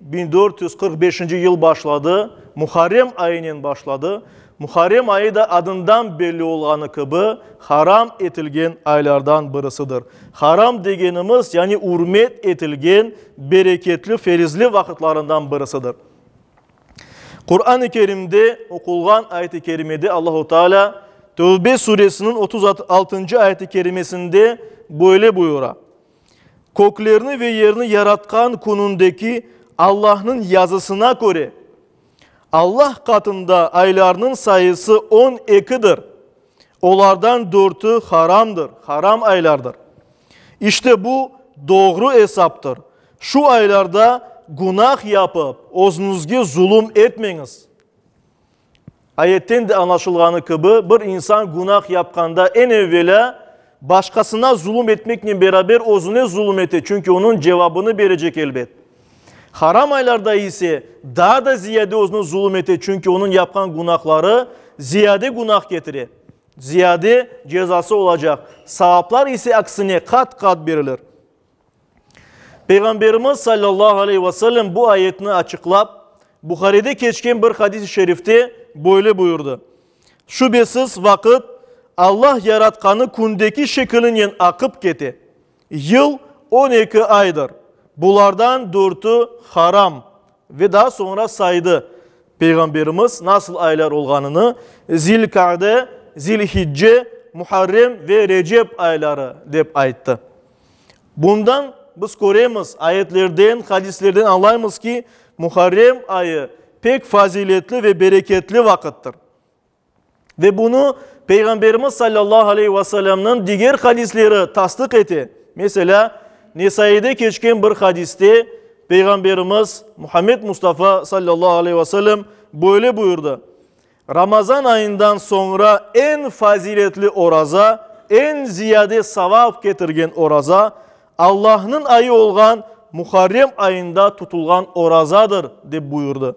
Biñ dört yüz qırq beşinci yıl başladı, Muharrem ayınen başladı, Muharrem ayı da adından belli olğanı kibi haram etilgen aylardan birisidir. Haram degenimiz, yani ürmet etilgen bereketli, ferizli vaqıtlarından birisidir. Quran-ı Kerimde oqulğan ayet-i kerimede Allahu Teala Tövbe suresiniñ otuz altıncı ayet-i kerimesinde böyle buyura, Köklerni ve yerni yaratqan Künündeki Allahnıñ yazısına köre, Allah qatında aylarnıñ sayısı on ekidir, olardan dörtü haramdır, haram aylardır. İşte bu, doğru esaptır. Şu aylarda günah yapıp, özüñizge zulüm etmeñiz. Ayetten de añlaşılğanı kibi, bir insan günah yapqanda, eñ evvelâ, başqasına zulum etmeknen beraber özüne zulum ete, çünki onıñ cevabını berecek, elbet. Haram aylarda ise, daa da ziyade özüne zulum ete, çünki onıñ yapqan günahları ziyade günah ketire, ziyade cezası olacaq, savaplar ise aksine qat-qat berilir. Peyğamberimiz sallallahu aleyh ve sellem bu ayetni açıqlap, Buharide keçken bir hadis-i şerifte böyle buyurdı, Şübesiz, vaqıt Allah yaratqanı kündeki şekilinen aqıp kete. Yıl on eki aydır, bulardan dörtü haram, Ve daa soñra saydı, Peyğamberimiz nasıl aylar olğanını, Zilkade, Zilhicce, Muharrem ve Recep ayları, dep ayttı. Bundan biz köremiz, ayetlerden, hadislerden añlaymız ki, Muharrem ayı pek faziletli ve bereketli vaqıttır. Ve bunı Peyğamberimiz sallallahu aleyhi ve sellemniñ diger hadisleri tasdıq ete. Meselâ, Nesaide keçken bir hadiste Peyğamberimiz Muhammed Mustafa sallallahu aleyhi ve sellem böyle buyurdı, Ramazan ayından soñra eñ faziletli oraza, eñ ziyade savap ketirgen oraza, Allahnıñ ayı olğan Muharrem ayında tutulğan orazadır, dep buyurdı.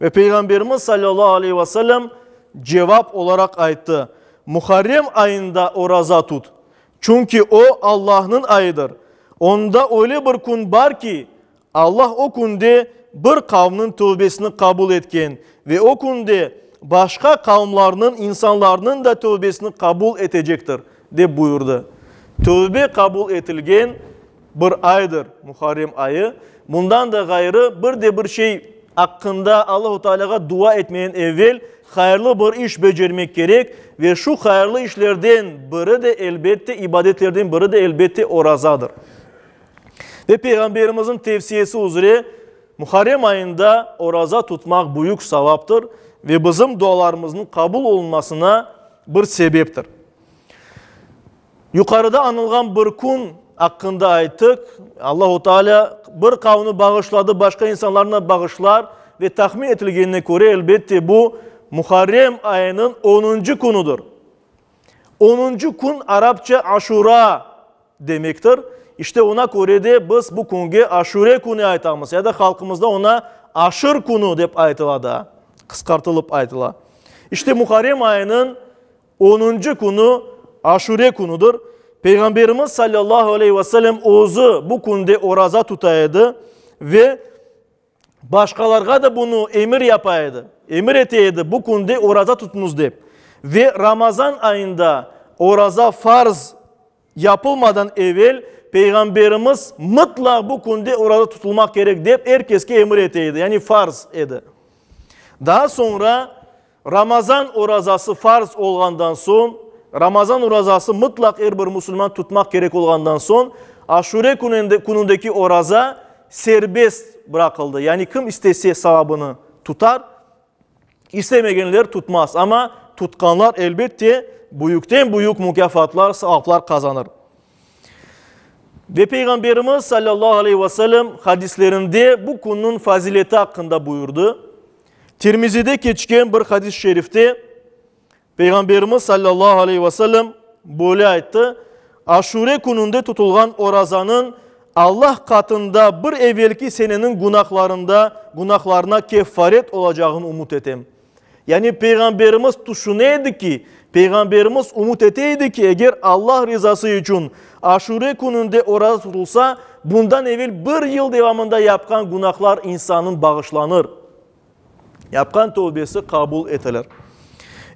Ve Peyğamberimiz salâllahu aleyhi ve sellem cevap olaraq ayttı, Muharrem ayında oraza tut, çünki o, Allahnıñ ayıdır, onda öyle bir kün bar ki, Allah o künde bir qavmniñ tövbesini qabul etken ve o künde başqa qavmlarnıñ insanlarnıñ da tövbesini qabul etecektir, dep buyurdı. Tövbe qabul etilgen. Bir aydır, Muharrem ayı. Bundan da ğayrı, bir de bir şey aqqında Allahu Tealâğa dua etmeden evel hayırlı bir iş becermek kerek, ve şu hayırlı işlerden biri de, elbette, ibadetlerden biri de, elbette, orazadır. Ve Peyğamberimizniñ tevsiyesi üzre, Muharrem ayında oraza tutmaq büyük savaptır ve bizim dualarımıznıñ qabul olunmasına bir sebeptir. Yuqarıda añılğan bir kün aqqında aytıq, Allahu Taalâ bir qavmni bağışladı, başqa insanlarnı bağışlar ve tahmin etilgenine köre, elbette, bu Muharrem ayınıñ onuncı künüdir. Onuncı kün arapça Aşura demektir. İşte, oña köre de biz bu künge Aşure künü aytamız, ya da halqımızda oña Aşır künü dep aytıla daa, qısqartılıp aytıla. İşte, Muharrem ayınıñ Onuncu künü Aşure künüdir. Peyğamberimiz sallallahu aleyhi ve sellem özü bu künde oraza tuta edi ve başqalarğa da bunı emir yapa edi, emir ete edi, bu künde oraza tutınız dep. Ve Ramazan ayında oraza farz. yapılmadan evel Peyğamberimiz mıtlaq bu künde oraza tutulmaq kerek dep er keske emir ete edi, yani farz edi. Daa soñra Ramazan orazası farz olğandan soñ, Ramazan orazası mıtlaq er bir musulman tutmaq kerek olğandan soñ, Aşure künündeki oraza serbest bıraqıldı, yani kim istese savabını tutar, İstemegenler tutmaz, amma tutqanlar, elbette, büyükten-büyük mukâfatlar, savaplar qazanır. Ve Peyğamberimiz sallallahu aleyhi ve sellem hadislerinde bu künniñ fazileti aqqında buyurdı. Tirmizide keçken bir hadis-i şerifte Peyğamberimiz sallallahu aleyhi ve sellem böyle ayttı, Aşure kününde tutulğan orazanıñ Allah qatında bir evelki seneniñ günahlarında günahlarına keffaret olacağını umut etem. Yani Peyğamberimiz tüşüne edi ki, Peyğamberimiz umut ete edi ki, eger Allah rızası içün Aşure kününde oraza tutulsa, bundan evel bir yıl devamında yapqan günahlar insanın bağışlanır. Yapqan tövbesi qabul etilir.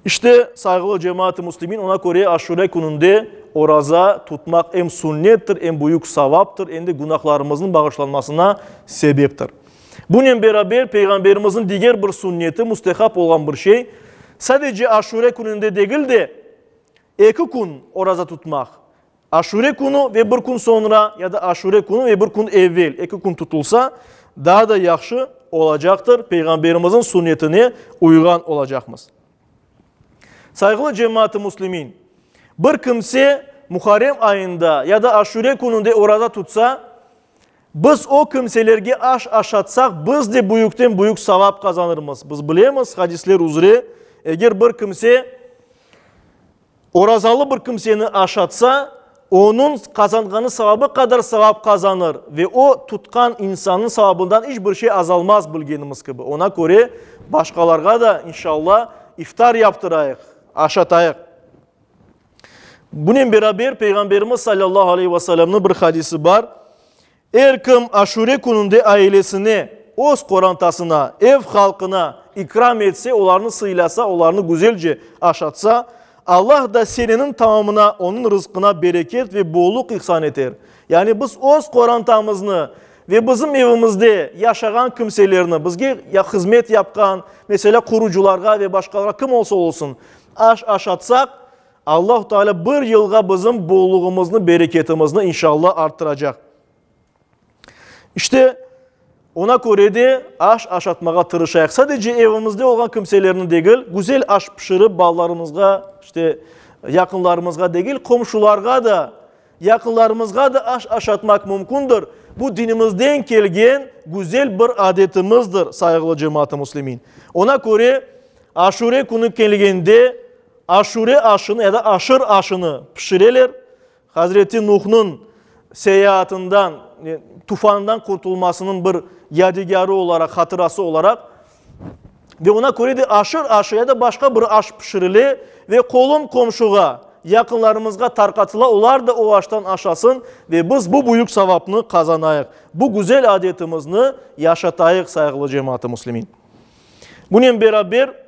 İşte, sayğılı cemaat-ı muslimin, oña köre Aşure kününde oraza tutmaq em sünnettir, em büyük savaptır, em de günahlarımıznıñ bağışlanmasına sebeptir. Bunen beraber, Peyğamberimizniñ diger bir sünneti, müstehap olğan bir şey, sadece Aşure kününde degil de, Eki kün oraza tutmaq, Aşure künü ve bir kün soñra ya da Aşure künü ve bir kün evvel, eki kün tutulsa, daa da yahşı olacaqtır, Peyğamberimizin sünnetine uyğan olacaqmız. Sayğılı cemaat-ı muslimin! Bir kimse Muharrem ayında ya da Aşure kününde oraza tutsa, biz o kimselerge aş aşatsaq, biz de büyükten-büyük savap qazanırmız. Biz bilemiz, hadisler üzre, eger bir kimse, Orazalı bir kimseni aşatsa, onıñ qazanğanı savabı qadar savap qazanır ve o, tutqan insanınıñ savabından iç bir şey azalmaz, bilgenimiz kibi. Oña köre, başqalarğa da, inşalla, iftar yaptırayıq, aşatayıq. Bunen beraber, Peyğamberimiz salâllahu aleyhi ve sellemniñ bir hadisi bar, Er kim Aşure kününde ailesine, öz qorantasına, ev halqına ikram etse, olarnı sıylasa, olarnı güzelce aşatsa, Allah da seneniñ tamamına, onıñ rızqına bereket ve bolluq ihsan eter. Yani biz öz qorantamıznı ve bizim evimizde yaşağan kimselerni, bizge hızmet yapqan, meselâ, qurucılarğa ve başqalarğa kim olsa olsun, aş aşatsaq, Allahu Teala bir yılğa bizim bollugımıznı, bereketimizni inşalla arttıracaq. İşte, ona köre de aş aşatmağa tırışayıq. Sadece evimizde olğan kimselerni degil, güzel aş pişirip balalarımızğa, işte, yaqınlarımızğa degil, qomşularğa da, yaqınlarımızğa da aş aşatmaq mümkündir. Bu dinimizden kelgen güzel bir adetimizdir, sayğılı cemaat-ı muslimin. Ona köre, Aşure künü kelgende, Aşure aşını ya da aşır aşını pişireler. Hazreti Nuhnıñ seyaatından, tufandan qurtulmasınıñ bir yadigarı olaraq, hatırası olaraq. Ve oña köre de aşır aşı ya da başqa bir aş pişirile ve qolum-qomşuğa, yaqınlarımızğa tarqatıla, olar da o aştan aşasın ve biz bu büyük savapnı qazanayıq, bu güzel adetimizni yaşatayıq, sayğılı cemaat-ı muslimin. Bunen beraber.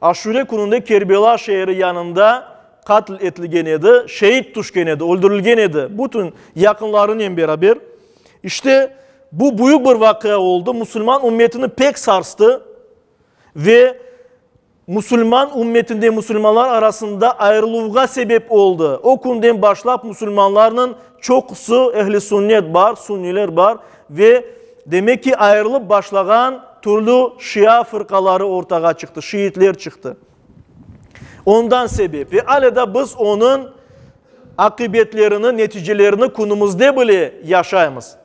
Aşure kününde Kerbela şeeri yanında qatl etilgen edi, şeid tüşken edi, öldürilgen edi, bütün yaqınlarınen beraber. İşte, bu büyük bir vaqia oldı, musulman ümmetini pek sarstı ve musulman ümmetinde, musulmanlar arasında ayırıluvğa sebep oldı. O künden başlap musulmanlarnıñ çoqusı ehli-sünnet bar, sünniler bar ve Demek ki, ayırılıp başlağan türlü şia fırqaları ortağa çıqtı, şiitler çıqtı. Ondan sebep ve ale da biz onıñ aqibetlerini, neticelerini künümizde bile yaşaymız.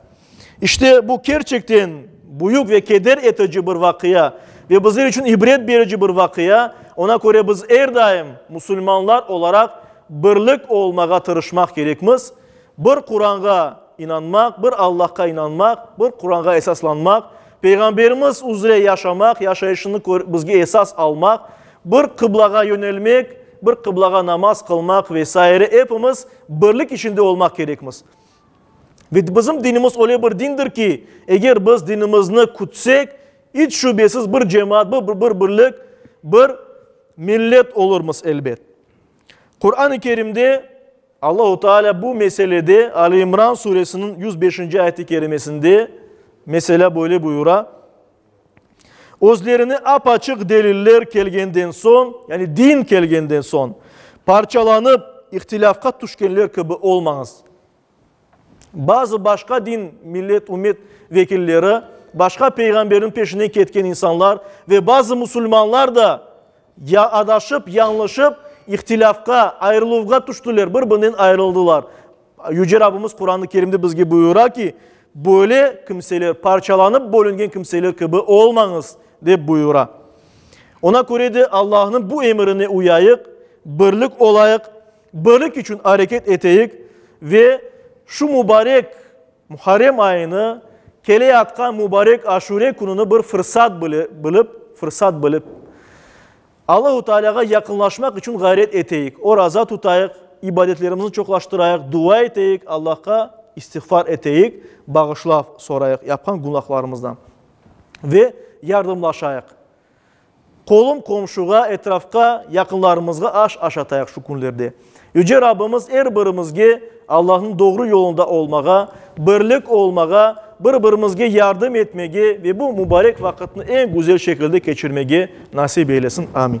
İşte bu kerçekten büyük ve keder etici bir vaqia ve bizler içün ibret berici bir vaqia. Oña köre biz er daim musulmanlar olaraq birlik olmağa tırışmaq kerekmiz. Bir Quranğa inanmaq, bir Allahqa inanmaq, bir Quranğa esaslanmaq, Peyğamberimiz üzre yaşamaq, yaşayışını körip bizge esas almaq, bir qıblağa yönelmek, bir qıblağa namaz qılmaq ve saire epimiz birlik içinde olmaq kerekmiz. Ve bizim dinimiz öyle bir dindir ki, eger biz dinimizni kütsek, iç şübesiz bir cemaat, bir birlik, bir millet olurmız elbet. Quran-ı Kerimde Allahu Teala bu meselede Ali İmran Suresiniñ yüz beşinci ayet-i kerimesinde meselâ böyle buyura, Özlerine ap-açıq deliller kelgenden soñ, yani din kelgenden soñ, parçalanıp, ihtilâfqa tüşkenler kibi olmañız. Bazı başqa din, millet, ümmet vekilleri, başqa peyğamberniñ peşinen ketken insanlar ve bazı musulmanlar da ya adaşıp, yañlışıp, ihtilâfqa, ayrıluvğa tüştiler, bir-birinen ayrıldılar. Yüce Rabbimiz Quran-ı Kerimde bizge buyura ki, Böyle kimseler, parçalanıp bölüngen kimseler kibi olmañız, dep buyura. Oña köre de Allahnıñ bu emirine uyayıq, birlik olayıq. Birlik içün areket eteyik ve şu mubarek Muharrem ayını, keleyatqan mubarek Aşure kününi bir fırsat bilip, fırsat bilip, Allahu Tealâğa yaqınlaşmaq içün ğayret eteyik, oraza tutayıq, ibadetlerimizni çoqlaştırayıq, dua eteyik, Allahqa istiğfar eteyik, bağışlav sorayıq yapqan günahlarımızdan ve yardımlaşayıq. Qolum qomşuğa, etrafqa, yaqınlarımızğa aş aşatayıq şu künlerde. Yüce Rabbimiz er birimizge Allahnıñ doğru yolunda olmağa, birlik olmağa, bir-birimizge yardım etmege ve bu mubarek vaqıtnı eñ güzel şekilde keçirmege nasip eylesin. Amin.